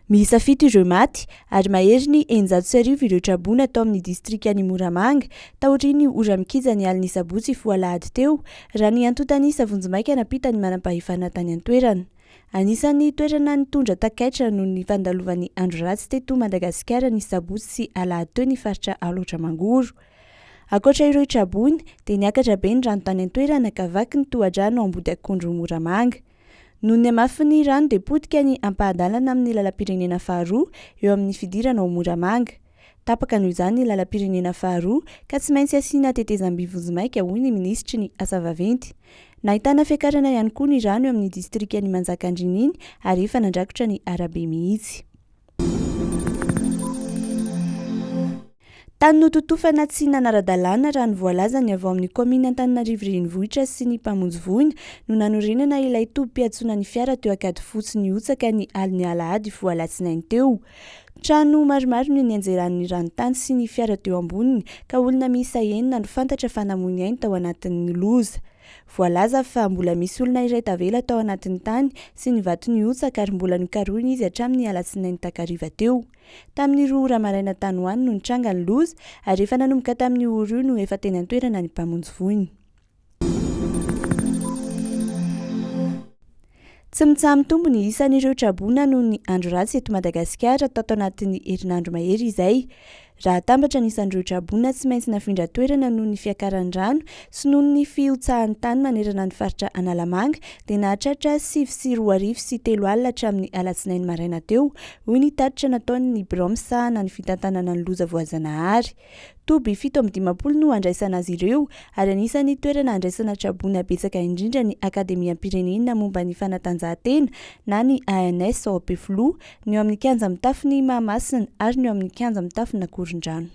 Miisa fito ireo maty ary mahery ny eninjato sy arivo ireo traboina atao amin'ny distrikan'i Moramanga taorian'ny ora mikija ny alin'ny sabotsy foha alahady teo, raha ny antontan'isa vonjimaika nampitan'ny manam-pahefana tany an-toerana. Anisan'ny toerana nitondra takaitra noho ny fandalovan'ny andro ratsy teto Madagasikara ny sabotsy sy alahady teo ny faritra Alaotra Mangoro. Ankoatra ireo traboina dia niakatra be ny rano tany an-toerana ka vaky ny tohadrano Ambodiakondro-Moramanga. Noho ny hamafin'ny rano dia potika ny ampahan-dalana amin'ny lalam-pirenena faharoa eo amin'ny fidirana ao Moramanga. Tapaka noho izany ny lalam-pirenena faharoa ka tsy maintsy asiana tetezam-by vonjimaika hoy ny minisitry ny Asa vaventy. Nahitana fiakarana ihany koa ny rano eo amin'ny distrikan'i Manjakandriana iny ary efa nandrakotra ny arabe mihitsy. Tany nototofana tsy nanara-dalàna, raha ny voalaza ny avy ao amin'ny kaominina Antananarivo Renivohitra sy ny mpamonjy voina, no nanorenana ilay tobim-piantsona ny fiara teo Ankadifotsy nihotsaka ny alin'ny alahady voa alatsinainy teo. Trano maromaro no nianjeran'ny rano tany sy ny fiara teo amboniny, ka olona miisa enina no fantatra fa namoy ny ainy tao anatin'ny loza. Voalaza fa mbola misy olona iray tavela tao anatin'ny tany sy ny vato nihotsaka ary mbola nokarohina izy hatramin'ny alatsinainy takariva teo. Tamin'ny roa ora maraina tany ho any no nitranga ny loza ary efa nanomboka tamin'io ora io no efa teny an-toerana ny mpamonjy voina. Tsy mitsaha-mitombo ny isan'ireo traboina noho ny andro ratsy eto Madagasikara tato anatin'ny herinandro mahery izay. Raha atambatra ny isan'ireo traboina tsy maintsy nafindra toerana noho ny fiakaran'ny rano sy noho ny fihotsahan'ny tany manerana ny faritra Analamanga dia nahatratra sivy sy roa arivo sy telo alina hatramin'ny alatsinainy maraina teo, hoy ny tatitra nataon'ny birao misahana ny fitantanana ny loza voajanahary. Toby fito amby dimampolo no handraisana azy ireo, ary anisan'ny toerana handraisana tra-boina betsaka indrindra ny Akademiam-pirenena momba ny fanatanjahantena na ny ANS ao Ampefiloha, ny eo amin'ny kianja mitafon'i Mahamasina ary ny eo amin'ny kianja mitafon'Akorondrano.